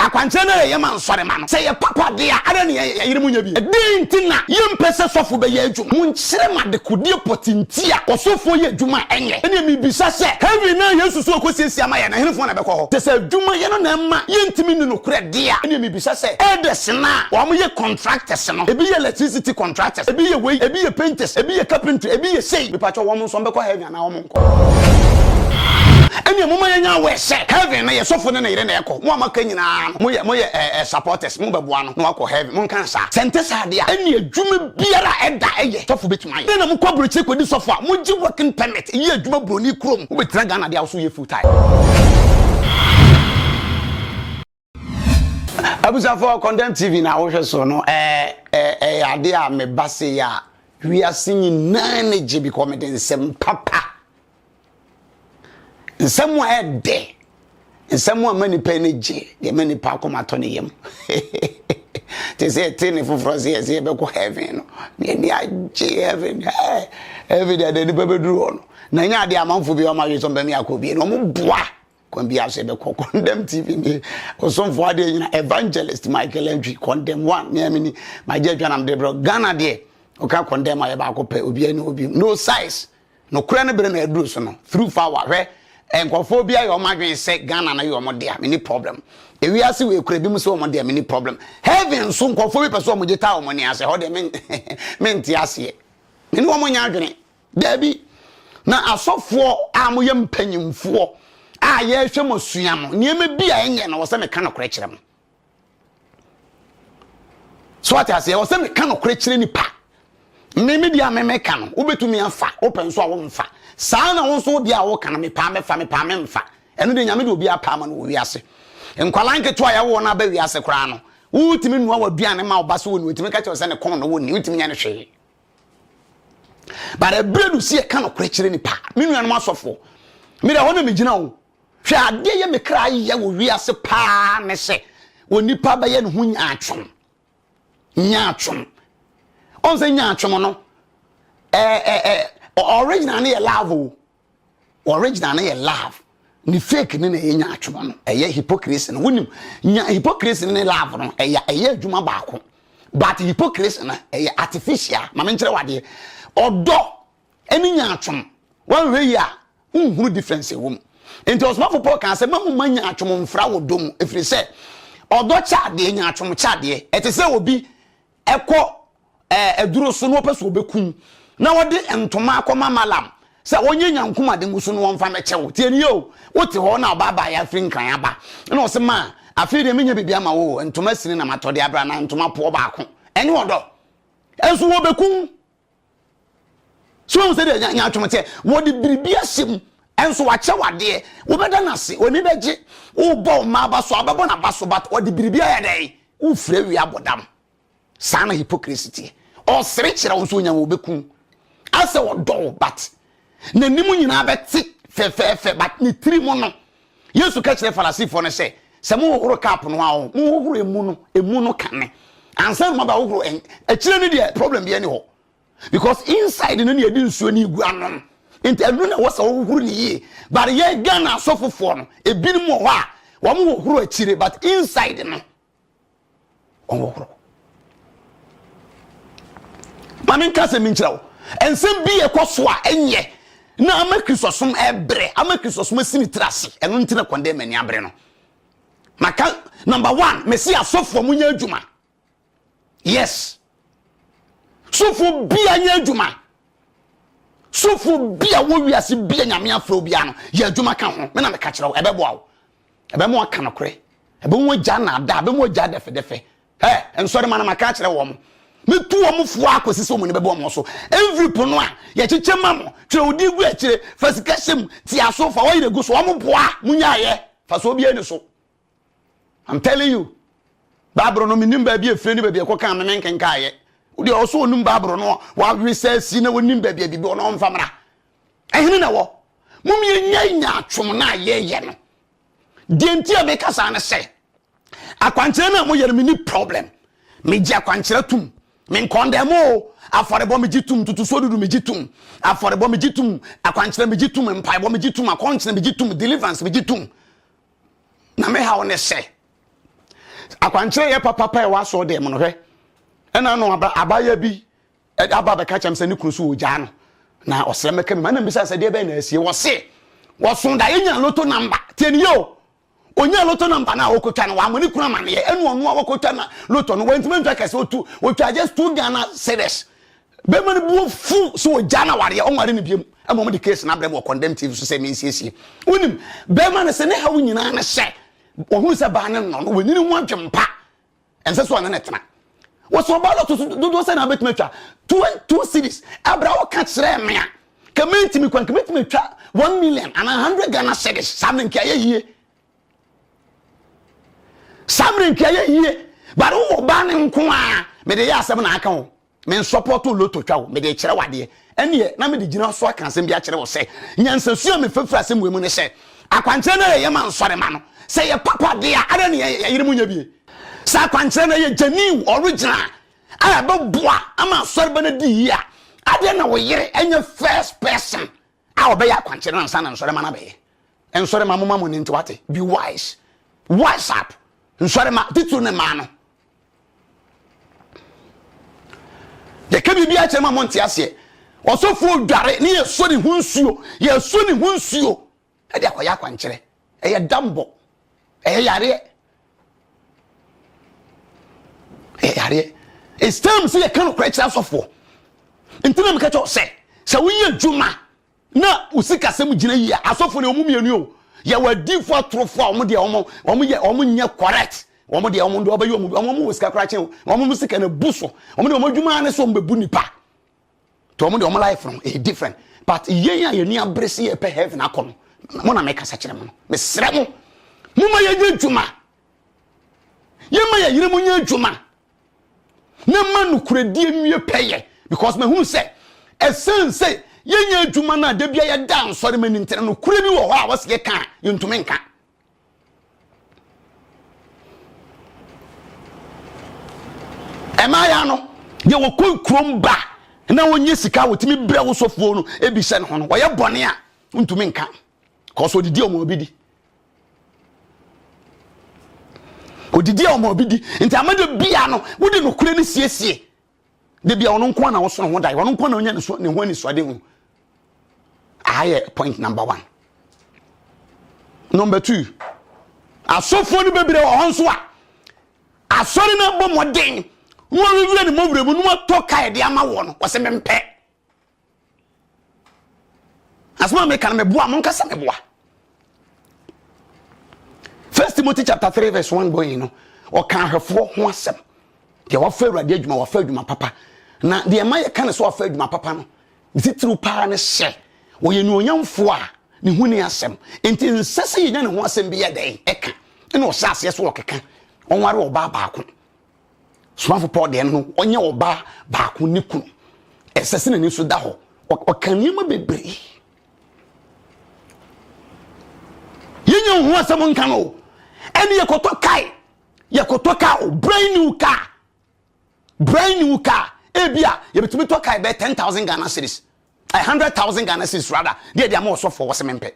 Akwankyerɛ no a yɛyɛ ma nsɔremma no, sɛ ɛyɛ papa de a, adɛn na yɛn yerenom nyɛ bi? Dɛn nti na yɛmpɛ sɛ sɔfo bɛyɛ adwuma? Monkyerɛ me adekodeɛ pɔtee nti a ɔsɔfoɔ yɛ adwuma a ɛnyɛ. Ɛnneɛ mebisa sɛ, heaven no a Yesu so rekɔsiesie ama yɛn no, ɛhenefoɔ na ɛbɛkɔ hɔ? Te sɛ adwumayɛ no na ɛma yɛntumi nni nokorɛ de a, ɛnneɛ mebisa sɛ, elders no a wɔyɛ contractors no, ebi yɛ electricity contractors, ebi yɛ wei, ebi yɛ painters, ebi yɛ carpentry, ebi yɛ sei, mepatwɔ wɔn, nso wɔbɛkɔ heaven anaa wɔnkɔ ɛnneɛ moma yɛnya awɛ sɛ heaven no yɛ sɔfo ne ne yere na ɛkɔ mo a moaka nyinaa no moyɛ moyɛ ɛɛ eh, eh, supporters mobɛboa no na wakɔ heaven monka saa sɛ nte saa deɛ a ɛnneɛ adwuma biara a ɛda ɛyɛ sɔfo bɛtumi ayɛ dɛn na mokɔ aburokyire kɔdi sɔfo a mogye working permit yɛ adwuma buroni kurom wobɛtena ghana deɛ a wo so yɛ full time Abusuafoɔ Condemn TV na wohwɛ so no ɛɛ ɛɛ ɛyɛ adeɛ a meba se yɛ a wiase nyinaa ne gye bikɔ mede nsɛm papa nsɛm a ɛdɛ nsɛm a ma nipa ani gye deɛ ma nipa akoma tɔ ne yam te sɛ ɛte ne foforɔ se yɛse yɛbɛkɔ heaven no ne ani agye heaven ɛɛ heaven deɛ deɛ nipa bɛduru hɔ no na ɛnyɛ adeɛ amanfo bi ɔma hwe sɛ ɔmbɛmi akɔ bie no ɔmo boa kwan bi asɛ bɛkɔ condemn tv ne ɔsomfo adeɛ nyina evangelist michael entry condemn one ne amini magye adwa nam de brɛ ghana deɛ ɔka condemn ayɛ baako pɛ obiara ne obi no size nokorɛ no bere na aduru so no through fawa hwɛ nkurɔfoɔ bi ayɛ wɔn adwene sɛ ghana no yɛ wɔn dea mini problem ewiase wɔ ekura bi mu sɛ wɔn dea mini problem heaven nso nkurɔfoɔ bi pɛ sɛ wɔn gye taa wɔn ani asɛ hɔ deɛ mente aseɛ mene wɔn nyɛ adwene Daabi, na asɔfoɔ a moyɛ mpanimfoɔ a yɛrehwɛ mo sua no, nneɛma bi a ɛnyɛ na wɔ sɛ meka nokorɛ kyerɛ mo. So ate aseɛ, wɔ sɛ meka nokorɛ kyerɛ nipa. Me me deɛ a memeka no, wobɛtumi afa, wopɛ nso a womfa. Saa na wo nso deɛ a woka no, mepaa mɛfa, mepaa memfa. Ɛno deɛ Nyame de obi apaa ma no wɔ wiase. Nkwadaa nketewa a yɛwoɔ no aba wiase koraa no, wotumi nua w'aduane ma wo ba so wɔ ne wotumi ka kyerɛ sɛ ne kɔn na wɔnni, wotumi nyɛ no hwee. but ɛberɛ no si ɛka nokorɛ kyerɛ nipa me nuanom asɔfoɔ mede hɔ na megyina o hwɛ adeɛ yɛ me kra yɛ wɔ wiase paa ne sɛ onipa bɛyɛ ne ho nyaatwom nyaatwom ɔn sɛ nyaatwom no ɛɛ ɛɛ original ne yɛ love o Original no yɛ love ne fake ne na ɛyɛ nyaatwom no ɛyɛ hypocrisy no wonim nya hypocrisy ne love no ɛyɛ ɛyɛ adwuma baako but hypocrisy no ɛyɛ artificial ma menkyerɛ wadeɛ ɔdɔ ɛne nyaatwom woanhwɛ yi a wonhunu difference ɛwɔ mu nti ɔsomafo paul kaa sɛ ma moma nyaatwom mfra wɔ dɔ mu ɛfiri sɛ ɔdɔ kyɛ adeɛ nyaatwom kyɛ adeɛ ɛte sɛ obi ɛkɔ Aduro so na ɔpɛ sɛ ɔbɛkum na ɔde ntoma akɔma malam sɛ ɔnyɛ nyankum ade ngu so na ɔmfa mɛkyɛ wo tie nie o wote hɔ na ɔba abaayɛ afiri nkran aba na ɔse ma afei deɛ menya biribi ama wo ntoma sini na matɔde abra na ntoma poɔ baako ɛnyɛ ɔdɔ ɛnso wɔbɛkum so wɔn sɛ deɛ nyatwom teɛ wɔde biribi ahyɛ mu ɛnso wakyɛ wadeɛ wobɛda no ase ɔni bɛgye wobɔ ɔma aba so abɛbɔ n'aba so but ɔde biribi ayɛ dɛn wofrɛ wi abɔdam saa na hypocrisy teɛ ɔsere kyerɛ wo nso ɔnya wɔ bɛku asɛ ɔdɔ wo but n'anim nyinaa bɛte fɛfɛɛfɛ but ne tiri mu no yesu ka kyerɛ farisifoɔ no sɛ sɛ mohohoro cup no a mohohoro emu no emu no kane ansa no mabɛhohoro akyire no deɛ problem biɛ ne hɔ because inside no ne yɛde nsuo ne gu anom nti ɛno na ɛwɔ sɛ wohohoro ne yie but yɛ ghana asɔfofoɔ no ebinom wɔ hɔ a wɔn hohoro akyire but inside no ɔnhohoro ma menka sɛ menkyerɛ wo ɛnsɛm bi ɛkɔ so a ɛnyɛ na ama kristosom ɛbrɛ ama kristosom asi ne tiri ase ɛno nti na kɔndɛ m'ani abere no maka number one mesi asɔfoɔ mo nyɛ adwuma yes Sofo bia nyɛ adwuma. Sofo bia wɔ wiase bia nyame afrɛ obiara no, yɛ adwuma ka ho. Me na meka kyerɛ wo, ɛbɛboa wo. Ɛbɛma aka nokorɛ. Ɛbɛma wagya naadaa, ɛbɛma wagya dɛfɛdɛfɛ. Ɛ, nsɔre ma no maka akyerɛ wɔn. Mɛtu wɔn foɔ akɔsi sɛ wɔn ani bɛbɔ wɔn so. Envelope no a yɛkyekyɛ ma mo, twerɛ wo din gu akyire, fa sika hyɛ mu, te aso, fa oil gu so, wɔn boa, monyaeɛ, fa so obiara ani so. I'm telling you. Bible no menim baabi efire ne baabi ɛkɔ kan me menkenka yɛ. Wode ɔso onim Bible no wawe sɛ si na wonim baabi a bibi ɔno ɔmfa mmra. Ɛhene na wɔ. Mom yɛnya nya atwom na yɛyɛ no. Deɛ nti a meka saa ne sɛ akwankyerɛ no a moyɛ no menni problem. Megye akwankyerɛ tum. Menkɔndɛm o afɔrebɔ megye tum tutusuo dudu megye tum afɔrebɔ megye tum akwankyerɛ megye tum mpaebɔ megye tum akɔnkyerɛ megye tum deliverance megye tum na me haw ne sɛ akwankyerɛ yɛ papapa ɛwɔ asɔɔ dɛm no hwɛ ɛna no abaya bi aba bɛka kyɛm sɛ ne kunu so wɔgyaa no na ɔsrɛ mɛka mi ma na mbisa sɛ deɛ bɛyɛ na asie wɔse wɔso da yɛnya loto namba tie ne yɛ o ɔnya loto namba no a wɔkɔtwa no wɔamane kunu amaneɛ ɛne ɔno a wɔkɔtwa na loto no wɔntimi ntwa kɛsɛ ɔtu wɔtwa just two ghana series Bɛrima no bu afu sɛ ɔgyaa no awareɛ, ɔnware no biom. Ɛma wɔde case no abrɛ me wɔ Condemn TV so sɛ mensiesie. Wonim, bɛrima no sɛ ne haw nyinaa ne sɛ ɔhunu sɛ baa no nnɔ no, wanyini ho adwempa. Ɛnsɛ sɛ ɔne no tena. Wɔsɛ ɔbaa lɔto so dodoɔ sɛ na wobɛtumi atwa two, two cities. Ɛberɛ a woka kyerɛɛ me a, ka mentumi kwan, ka mɛtumi atwa one million anaa hundred Ghana cedis. Saa mmerɛ nka ɛyɛ yie. Saa mmerɛ nka ɛyɛ yie. But wowɔ baa no nko a, mede yɛ asɛm na aka ho. Me nsɔpɔɔto lotto twa o, mede rekyerɛ wo adeɛ. Ɛnneɛ, na mede gyina so aka asɛm bi akyerɛ wo sɛ, nyansasu a mefa firi asɛm wei mu ne sɛ, akwankyerɛ no a yɛyɛ ma nsɔremma no, sɛ ɛyɛ papa deɛ a, adɛn na yɛn yerenom nyɛ bi? Sɛ akwankyerɛ no yɛ genuine, original, a ɛbɛboa ama asɔreba no adi yie a, adɛn na wo yere nyɛ first person a ɔbɛyɛ akwankyerɛ no ansa na nsɔrema no abɛyɛ. Nsɔrema momma mo ani nte wate. Be wise. Wise up. Nsɔrema titiriw ne mmaa no. Yɛka biribi akyerɛ ma mo nte aseɛ. Ɔsɔfoɔ dware ne yɛsɔ ne ho nsuo. Yɛsɔ ne ho nsuo. Ɛde akɔyɛ akwankyerɛ. ɛyɛ dambɔ ɛyɛ yareɛ ɛyɛ yareɛ it's time sɛ yɛka nokorɛ kyerɛ asɔfoɔ nti na meka kyɛw sɛ sɛ woyɛ adwuma na wo sikasɛm gyina yie a asɔfoɔ ne ɔmo mmienu o yɛwɔ adiifoɔ atorofoɔ a ɔmo deɛ ɔmo ɔmo yɛ ɔmo nyɛ correct ɔmo deɛ ɔmo deɛ ɔbɛyɛ ɔmo ɔmo ɔmo wɔ sika koraa kyɛn ɔmo ɔmo sika na bu so ɔmo deɛ ɔmo adwuma ne so ɔmo bɛbu nipa nti wɔn deɛ wɔn life no ɛyɛ different but yɛn a yɛn ni abere si yɛpɛ heaven akɔ no mo na mɛkasa kyerɛ mo no mesrɛ mo mo ma yɛnyɛ adwuma yɛn ma yɛyere mo nyɛ adwuma na ma nokorɛdie nwie pɛyɛ because mahunu sɛ ɛsɛn sɛ yɛnyɛ adwuma no a da bia yɛda nsɔre ma ni ntena nokorɛ bi wɔ hɔ a wɔsɛ yɛka a yɛntumi nka ɛmaaya no deɛ wɔkɔ nkurom ba na wɔnyɛ sika a wɔtumi brɛ wo sɔfoɔ no ebi hyɛ ne ho no ɔyɛ bɔne a ntumi nka kɔsɔ odidi ɔmo obi di odidi ɔmo obi di nti amadu bia no wode nokore no siesie da bia ɔno nko na ɔso ne ho dae ɔno nko na ɔnya ne ho anisoadehu aha yɛ point number one number two asɔfoɔ no bebree wɔ hɔ nso a asɔre no abɔ mmɔden na wɔawiwie ne mɔwerɛ mu na wɔatɔ kae de ama wɔ no wɔsɛ mempɛ Asɛm a meka no meboa mo nkasa meboa. First Timothy chapter three verse one going no ɔka ahwɛfoɔ ho asɛm deɛ wafa awurade adwuma wafa adwuma papa na deɛ ɛma yɛka ne sɛ wafa adwuma papa no ne titiriw paa ne sɛ ɔyɛ nuonyamfoɔ a ne ho ni asɛm nti nsɛ sɛ yɛnya ne ho asɛm bi yɛ dɛn ɛka ɛna ɔhyɛ aseɛ so ɔkeka ɔnware ɔbaa baako somafo paul deɛ no ɔnyɛ ɔbaa baako ne kunu ɛsɛ sɛ n'ani so da hɔ ɔka nneɛma bebree yɛnyɛ ho asɛm nka no o ɛne yɛkɔtɔ kae yɛkɔtɔ kaa o brand new car brand new car ebi a yɛbɛtumi tɔ kae bɛyɛ ten thousand ghana series a hundred thousand ghana series rather deɛ deɛ ama ɔsɔfoɔ wɔsɛ mempɛ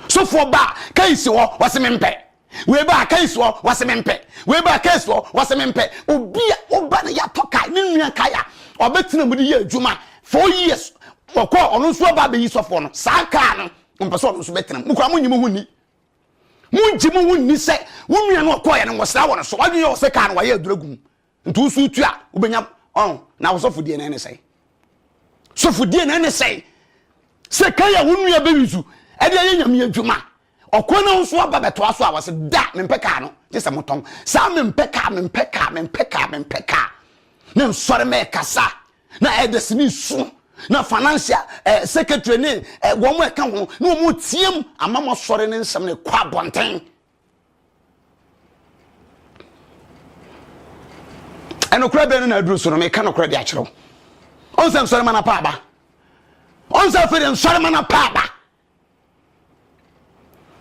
Sofoɔ baa kɛisi hɔ wɔse mempɛ wei baa kɛisi hɔ wɔse mempɛ wei baa kɛisi hɔ wɔse mempɛ obi a woba no yɛatɔ kae ne nua kae a ɔbɛtena mu de yɛ adwuma four years wɔkɔ ɔno nso aba abɛyi sɔfoɔ no saa kaa no ɔmpɛ sɛ ɔno nso bɛtena mu kora monyi mo ho nni mongye mo ho nni sɛ wo nua no ɔkɔɔyɛ no wɔsra wɔ no so wadwene yɛ wɔ sɛ kaa no wayɛ adura gu mu Nti wo nso wotu a wobɛnya ɔn na wosɔfodie no ɛne sɛe sɔfodie no ɛne sɛe sɛ kan a wo nua bɛwi so ɛde ayɛ nyame adwuma ɔkwan no nso aba bɛtoa so a wɔse da mempɛ kaa no gye sɛ motɔn saa mempɛ kaa mempɛ kaa mempɛ kaa mempɛ kaa na nsɔre mɛkasa na ɛdɛse ne su na financial eh, secretary ne eh, wɔn ɛka ho na wɔn team ama mo asɔre ne nsɛm no kɔ abɔnten ɛnokorɛ bɛn no na aduru so no meka nokorɛ de akyerɛ wo ɔn sɛ nsɔre ma no pa aba ɔn sɛ afei de nsɔre ma no pa aba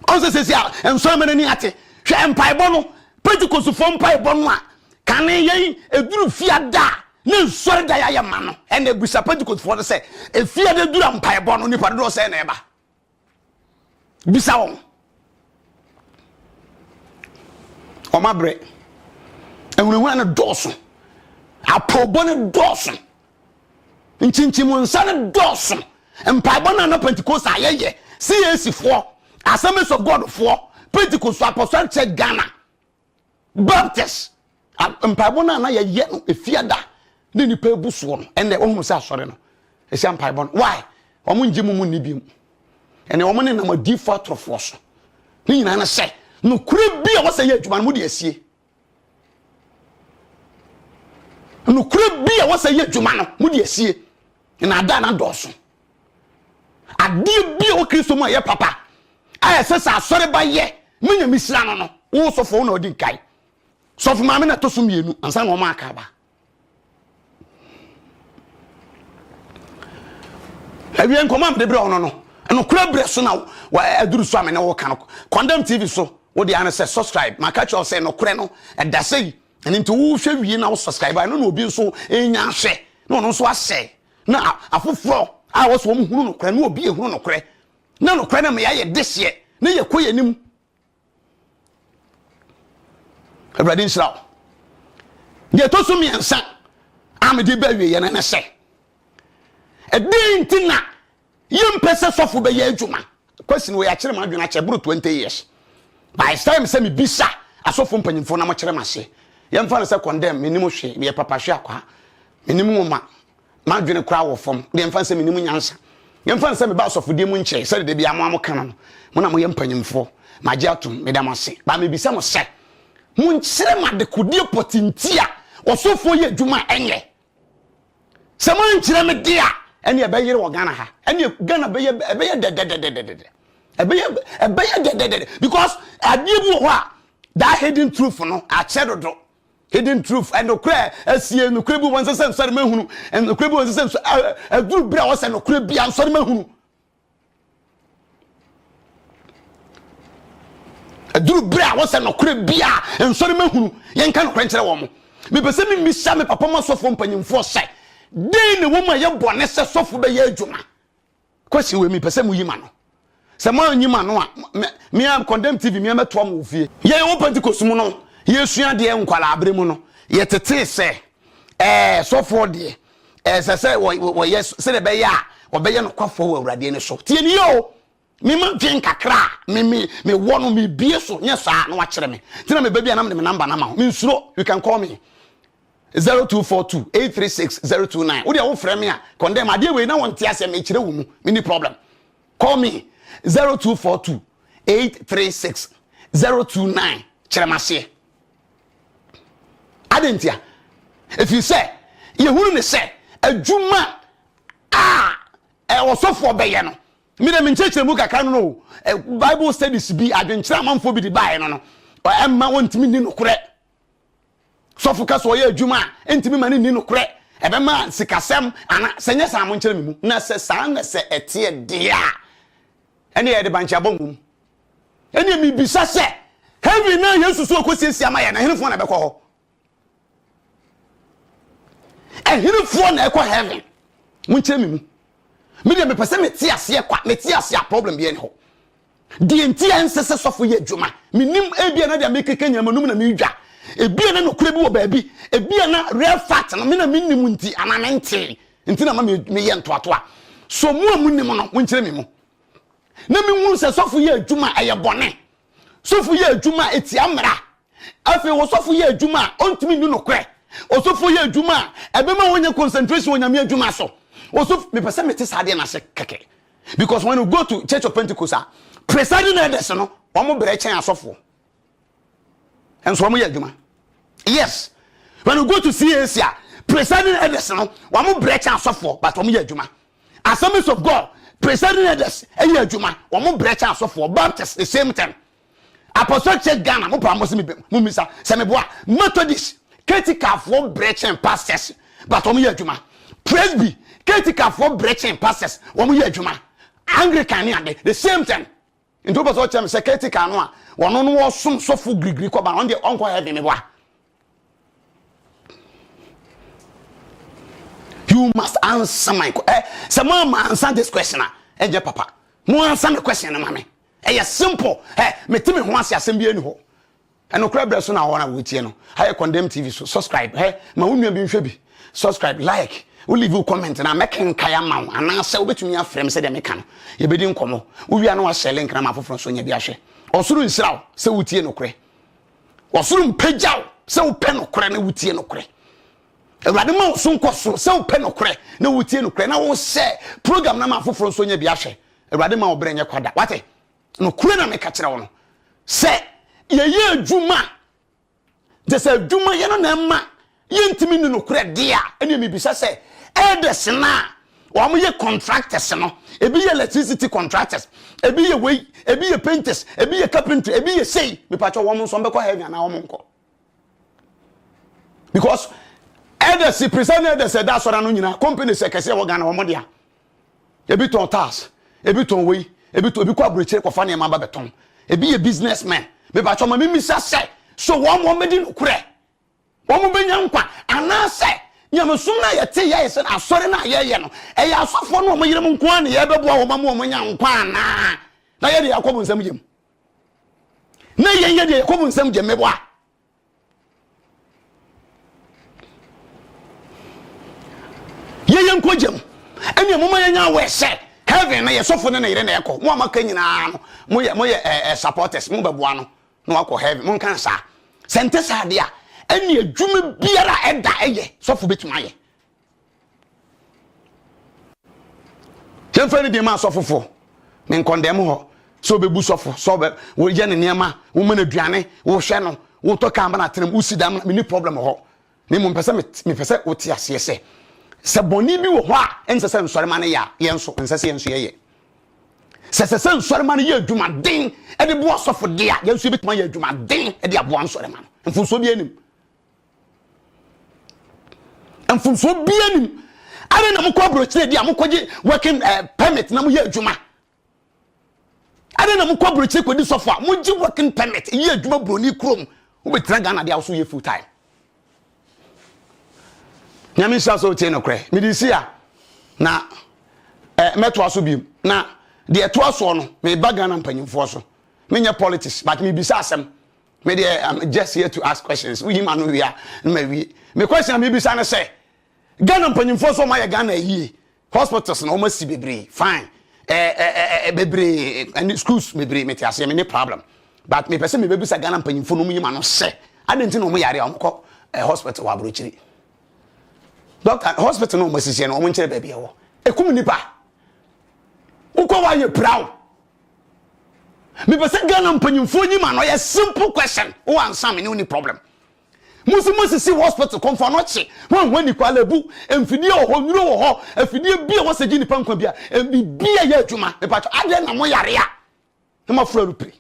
ɔn sɛ sɛsi a nsɔre ma no ani ate hwɛ mpaebɔ no pentecostefoɔ mpaebɔ no a kane yɛn ɛduru fiada a ne nsɔre da yɛayɛ ma no ɛna ɛbusa pentecostefoɔ no sɛ ɛfiada dura mpaebɔ no nipa dodoɔ sɛ na ɛba bisa wɔn wɔn abrɛ ahunahuna no dɔɔso apoobɔ no dɔɔso nkyinkyim nsa no dɔɔso mpaebɔ no ana pentecost a yɛyɛ cac foɔ assemblies of god foɔ pentecost apostolic church ghana Baptist mpaebɔ no a na yɛyɛ no efiada ne nipa ebu soɔ no ɛnna wɔn mu sɛ asɔre no ɛhyɛ mpaebɔ no why wɔn ngye mu mu nni bi mu ɛnna wɔn ne nam adiifo atorofoɔ so ne nyinaa no sɛ nokore bi a wɔsɛ yɛ adwuma no mo de asie nokore bi a wɔsɛ yɛ adwuma no mo de asie na ada na dɔɔso Adeɛ bi a ɛwɔ Kristo mu a ɛyɛ papa a ɛsɛ sɛ asɔreba yɛ ma Nyame hyira no no, wo sɔfo wo na ɔdi nkae. Sɔfo maame na ɛtɔ so mmienu ansa na wɔn aka aba. Awie nkɔmɔ a mede brɛ wo no no, nokorɛ berɛ so na aduru so a me ne wo ka no. Condemn TV so, wo deɛ ano sɛ subscribe. Maka kyerɛ wo sɛ nokorɛ no ɛda sɛ yi. Ɛno nti wohwɛ wie na wo subscribe a, ɛno na obi nso ɛnya ahwɛ na ɔno nso asɛ Na afoforɔ a wɔsɛ wɔn hunu nokorɛ no obi ehunu nokorɛ na nokorɛ no ma yɛayɛ deseɛ na yɛkɔ yɛn anim awurade nhyira wo deɛ ɛtɔ so mmiɛnsa a mede bɛ wie yɛn ne sɛ ɛdɛn nti na Yɛmpɛ sɛ sɔfo bɛyɛ adwuma. Kwasi no wɔakyere m'adwene akyɛ ɛboro 20 years. But it's time sɛ mebisa asɔfo mpanyimfoɔ na wɔkyerɛ m'ase. Yɛmfa no sɛ condemn, mennim hwee, meyɛ papahweakwaa. Mennim nwoma. M'adwene koraa wɔ fam. Deɛ mfa no sɛ mennim nyansa. Yɛmfa no sɛ meba asɔfodie mu nkyɛe, sɛdeɛ da biara mo ara moka no no. Mo na moyɛ mpanyimfoɔ. Magye atom. Meda mo ase. But mebisa mo sɛ, monkyerɛ me adekodeɛ pɔtee nti a ɔsɔfoɔ yɛ adwuma a ɛnyɛ. Sɛ mo ankyerɛ me de a, ɛne ɛbɛyere wɔ Ghana ha. Ɛne Ghana bɛyɛ ɛbɛyɛ dɛdɛdɛdɛdɛdɛ. Ɛbɛyɛ ɛbɛyɛ dɛdɛdɛdɛ because adeɛ bi wɔ hɔ a that hidden truth no akyɛ dodo. Hidden truth ɛnokorɛ ɛsie nokorɛ bi wɔn sɛ sɛ nsɔre ma hunu ɛnokorɛ bi wɔn sɛ sɛ nsɔ ɛduru bere a wɔsɛ nokorɛ bi a nsɔre ma hunu. ɛduru bere a wɔsɛ nɔkorɛ bi a nsɔre ma hunu yɛnka nɔkorɛ nkyerɛ wɔn mepɛ sɛ memisa me papa mu asɔfoɔ mpanyimfoɔ sɛ den na ɛwɔ mu a ɛyɛ bɔne sɛ sɔfo bɛyɛ adwuma kwasi wei mepɛ sɛ moyi ma no sɛ moanyi ma no a mea condemn tv mea mɛtoa mo wɔ fie yɛn wɔ pentecost mu no yɛsua deɛ nkwalaa bere mu no yɛtetee sɛ ɛɛ sɔfoɔ deɛ Ɛsɛ sɛ wɔyɛ sɛdeɛ ɛbɛyɛ a wɔbɛyɛ nokwafoɔ wɔ Awurade ani so. Tie ni o, mema dwen kakra a mewɔ no mebie so, nyɛ saa na wakyerɛ me. Nti na meba bi a na mede me namba no ama wo. Mensuro, you can call me. 0242 836 029 wode wo frɛ me a condemn adeɛ wei na wɔnte aseɛ mekyerɛ wo mu menni problem call me 0242 836 029 kyerɛ m'aseɛ Adɛn ntia? Ɛfiri sɛ yɛhunu ne sɛ adwuma a ɔsɔfoɔ bɛyɛ no mede me nkyerɛkyerɛ mu kakra no no bible studies bi adwenkyerɛ amanfoɔ bi de baeɛ no no ɛmma wɔntumi nni nokorɛ sɔfo ka sɛ ɔyɛ adwuma a ɛntumi ma no nni nokorɛ ɛbɛma sikasɛm ana sɛ nyɛ saa mo nkyerɛ me mu na sɛ saa na sɛ ɛteɛ deɛ a ɛne yɛde bankye abɔ mmom Ɛnneɛ mebisa sɛ, heaven no a Yesu so rekɔsiesie ama yɛn no, ɛhenefoɔ na ɛbɛkɔ hɔ? Ɛhenefoɔ na ɛkɔ heaven? Monkyerɛ me mu. Me deɛ mepɛ sɛ mete aseɛ kwa, mete aseɛ a problem bi ɛne hɔ. Deɛ nti a ɛnsɛ sɛ sɔfo yɛ adwuma, menim ebia na deɛ mekeka nyina manum na medwa. Ebia na nokorɛ bi wɔ baabi, ebia na real fact no me na menim nti anaa mentee nti na ma meyɛ ntoatoa. So mo a monim no, monkyerɛ me mu. na mehunu sɛ sɔfo yɛ adwuma a ɛyɛ bɔne sɔfo yɛ adwuma a ɛtia mmara afei ɔsɔfo yɛ adwuma a ɔntumi nni nokorɛ ɔsɔfo yɛ adwuma a ɛbɛma wɔnyɛ concentration wɔ nyame adwuma so ɔsɔfo mepɛ sɛ mete saa deɛ no ase kɛkɛ because when you go to church of pentecost a presiding elders no wɔn brɛ kyɛn asɔfoɔ nso wɔn yɛ adwuma yes when you go to CAC a presiding elders no wɔn brɛ kyɛn asɔfoɔ but wɔn yɛ adwuma assemblies of God presiding elders ɛyɛ adwuma wɔn brɛ kyɛn asɔfoɔ Baptist the same thing apostolic church Ghana mo pa mo se mi bɛ mo misa sɛ mi boa Methodist ketikafoɔ brɛ kyɛn pastors but wɔn yɛ adwuma Presby ketikafoɔ brɛ kyɛn pastors wɔn yɛ adwuma Anglican ne ade the same thing. Nti wopɛ sɛ ɔkyerɛ me sɛ caretaker no a wɔno no wɔsom sɔfo girigiri kɔba ɔno deɛ ɔnkɔ heaven me boa you must answer my question eh, sɛ mo ama answer this question a ɛnyɛ papa mo answer me question no ma me ɛyɛ simple eh, mete me ho ase asɛm bi ani hɔ Ɛnokorɛ brɛ so na wɔn a wɔretie no ayɛ Condemn TV so subscribe hɛ ma wo nua bi nhwɛ bi subscribe like wo leave wo comment na mɛkenkae ama wo anaasɛ wobɛtumi afrɛ me sɛdeɛ meka no yɛbɛdi nkɔmmɔ wowia no wahyɛ link no ama afoforɔ nso nya bi ahwɛ ɔsoro nhyira wo sɛ wotie nokorɛ ɔsoro mpagya wo sɛ wopɛ nokorɛ na wotie nokorɛ awurade ma wo so nkɔ soro sɛ wopɛ nokorɛ na wotie nokorɛ na wohyɛ program no ama afoforɔ nso nya bi ahwɛ awurade ma wo berɛ nyɛ kwada wate Nokorɛ na meka kyerɛ wo no, sɛ yɛyɛ adwuma a, gye sɛ adwumayɛ no na ɛma yɛntumi nni nokorɛ deɛ a, ɛnneɛ mebisa sɛ, elders no a wɔyɛ contractors no, ebi yɛ electricity contractors, ebi yɛ wei, ebi yɛ painters, ebi yɛ carpentry, ebi yɛ sei, mepakyɛ wɔn nso wɔbɛkɔ heaven anaa wɔnkɔ? because elders present elders ɛda asɔre ano nyinaa companies ɛkɛse ɛwɔ ghana wɔn dea ebi tɔn tiles ebi tɔn wei ebi tɔn ebi kɔ aburokyire kɔfa nneɛma ba bɛtɔn ebi yɛ business men bɛbàtɔ ma mímí sa sɛ so wɔn wɔn bɛdi nukurɛ wɔn bɛnya nkwa anaasɛ nyamesom no a yɛte yɛyɛ sɛ asɔre no a yɛyɛ no ɛyɛ asɔfoɔ no wɔn yerem nko a na yɛbɛboa wɔn ma wɔn nya nkwa anaa na yɛde akɔ wɔn nsam yam na yɛn yɛ deɛ yakobo nsɛm gye mmɛbɔ a yɛyɛ nkɔ gyam ɛnna mo ma yɛnya awɔ ɛsɛ heaven na yɛ sɔfo ne ne yere na ɛkɔ mo a maka nyinaa no mo yɛ mo yɛ ɛɛ supporters mo bɛboa no na wakɔ heaven mo nka saa sɛ nte saa deɛ a ɛnna adwuma biara ɛda ɛyɛ sɔfo betuma yɛ yɛmfa ne deɛ ma asɔfofo ne nkɔndɛm hɔ sɛ wobɛbu sɔfo sɛ woyɛ ne nneɛma woma no aduane wohwɛ no wotɔ kaa ma no atenam wosi da ma menni problem hɔ na mmom pɛ sɛ mepɛ sɛ wote aseɛ sɛ sɛ bɔne bi wɔ hɔ a ɛnsɛ sɛ nsɔrema no yɛ a yɛn nso ɛnsɛ sɛ yɛn nso yɛyɛ sɛ sɛ sɛ nsɔrema no yɛ adwumaden de boa sɔfo de a yɛn nso yɛbɛtumi ayɛ adwumaden de aboa nsɔrema no mfonsuo bi anim mfomsoɔ biara nim adɛn na mokɔ aburokyire di a mokɔgye working uh, permit na moyɛ adwuma adɛn na mokɔ aburokyire kɔdi sɔfo a mogye working permit yɛ adwuma buroni kurom wobɛtena ghana de a woso yɛ full time nyame nhyira sɛ wotie nokorɛ mede si a na eh, mɛtoa so biom na deɛ ɛtoa soɔ no meba ghana mpanyimfoɔ so menyɛ politics but mebisa asɛm me deɛ i'm just here to ask questions woyi ma no wie a na ma wie me question a mebisa no sɛ ghana mpanyimfoɔ so ɔmayɛ ghana yie hospitals na wɔasi bebree fine eh, eh, eh, eh, bebree ɛne schools bebree mete aseɛ me ne problem but mepɛ sɛ mebɛbisa ghana mpanyimfoɔ no mu yi ma no sɛ adɛn nti na wɔn yare a wɔkɔ eh, hospital wɔ aburokyiri doctor hospital na wɔn asisi no wɔn nkyerɛ baabi ɛwɔ ekum nipa wokɔ wɔ ayɛ pirawo. mepɛ sɛ ghana mpanyimfoɔ nyim ano yɛ simple question wo ansa me ne wo ni problem mo si mo sisi hospital kɔnfɔ no kye ho ahwa ni kwa lebu mfidie wɔ hɔ nwuro wɔ hɔ afidie bi a wɔsɛ gye nipa nkwa bi a bi a yɛ adwuma mepatwɔ adeɛ na mo yare a na mo afura no piri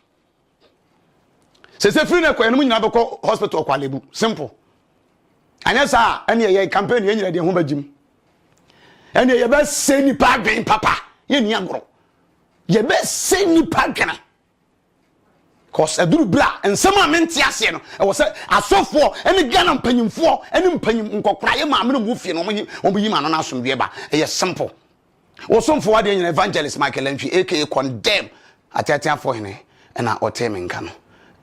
sese firi na kɔ yɛn mu nyinaa bɛkɔ hospital kɔ alebu simple anyɛ saa ɛne yɛyɛ campaign yɛn nyinaa deɛ ho bɛgyim ɛne yɛbɛsɛ nipa adwen papa yɛn ni agorɔ yɛbɛsɛ nipa adwene cause ɛduru bere a nsɛm a mente aseɛ no ɛwɔ sɛ asɔfoɔ ɛne ghana mpanyimfoɔ ɛne mpanyim nkɔkora yɛ maame no mu fie no wɔn yi wɔn yi ma no n'asomdwoeɛ ba ɛyɛ simple Wo somfo ho adeɛ nyina Evangelist Michael Antwi aka Condemn ateateafo hene na ɔtee me nka no.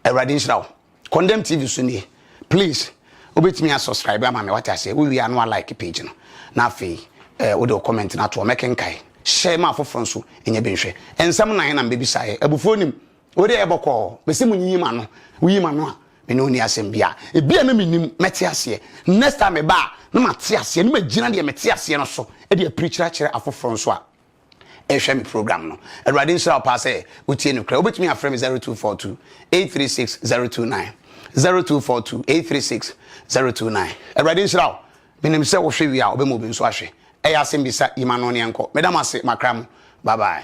Awurade nhyira wo. Condemn TV so nie. Please wobɛtumi a subscribe ama me wate aseɛ. Wowie a na wa like page no. Na afei eh, wode wo comment no atoɔ mɛkenkae. Hyɛ ma afoforɔ nso ɛnyɛ bi nhwɛ. Nsɛm nan na mbɛbisaeɛ. Abufuo nim. Wo deɛ bɔkɔɔ, mese mo nyiyi m'ano, woyi m'ano a, me ne wo nni asɛm biara. Ebi a na mennim, mɛte aseɛ. Next time meba a, na mate aseɛ, na magyina deɛ mete aseɛ no so de apirikyiri akyerɛ afoforɔ nso a ɛrehwɛ me program no. Awurade nhyira wo paa sɛ wotie no korɛ. Wobɛtumi afrɛ me 0242 836 029, 0242 836 029. Awurade nhyira wo. Menim sɛ wohwɛ wie a wobɛma obi nso ahwɛ. Ɛyɛ asɛmbisa, yi m'ano ne yɛnkɔ. Meda mo ase, makra mo. Bye bye.